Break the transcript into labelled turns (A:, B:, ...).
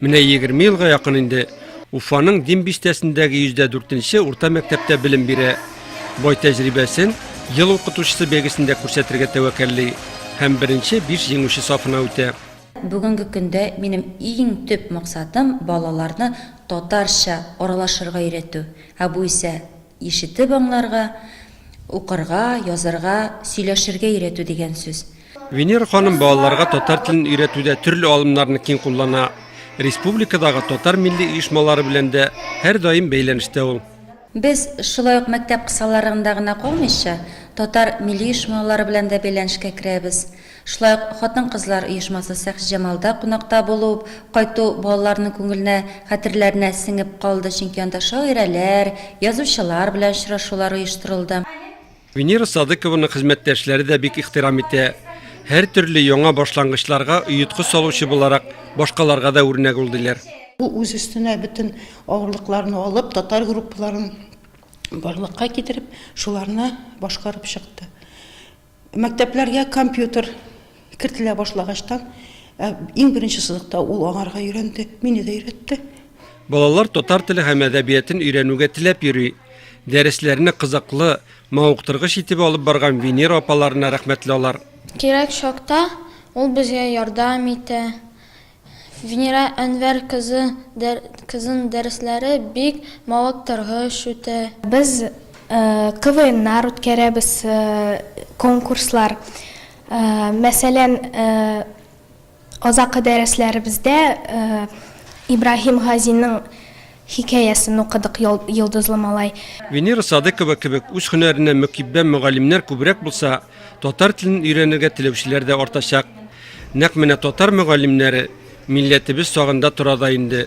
A: Менә егерме елга якын инде Уфаның Дим бистәсендәге йөздә дүртенче урта мәктәптә белем бирә. Бай тәҗрибәсен ел укытучысы бәйгесендә күрсәтергә тәвәккәлли һәм беренче биш җиңүче сафына үтә. Бүгенге көндә
B: минем иң төп максатым, балаларны татарча аралашырга өйрәтү. Ә бу исә Ишетеп аңларга, укырга, язарга, сөйләшергә өйрәтү дигән сүз. Венера ханым
A: балаларга татар телен өйрәтүдә төрле алымнарны киң куллана. Республикадагы татар милли оешмалары белән дә һәрдаим бәйләнештә ул. Без,
B: шулай ук мәктәп кысаларында гына калмыйча, татар милли оешмалары белән дә бәйләнешкә керәбез. Шулай ук хатын-кызлар оешмасы Сәхҗҗамалда кунакта булып кайту балаларның күңеленә, хәтерләренә сеңеп калды, чөнки анда шагыйрәләр, язучылар белән очрашулар оештырылды. Венера
A: Садыкованы хезмәттәшләре дә бик ихтирам итә. Һәртөрле яңа башлангычларга оеткыч салучы буларак, башкаларга да үрнәк ул, диләр. Ул үз өстенә
C: бөтен авырлыкларны алып, татар группаларын барлыкка китереп, шуларны башкарып чыкты. Мәктәпләргә компьютер кертелә башлагачтан, иң беренче сызыкта ул аңарга өйрәнде, мине дә өйрәтте. Балалар
A: татар теле һәм әдәбиятын өйрәнүгә теләп йөри. Дәресләрне кызыклы, мавыктыргыч итеп алып барган Венера апаларына рәхмәтле алар. Кирәк чакта
D: ул безгә ярдәм итә, Венера Әнвәр кызы дә кызын дәресләре бик мавыктыргыч үтә. Без
E: КВНнар үткәрәбез, конкурслар. Мәсәлән, азакы дәресләребездә Ибраһим Газинең Хикәясен укыдык, Йолдызлы малай. Венера Садыкова
A: кебек үз һөнәренә мөкиббән мөгаллимнәр күбрәк булса, татар телен өйрәнергә теләүчеләр дә артачак. Нәкъ менә татар мөгаллимнәре милләтебез сагында тора да инде.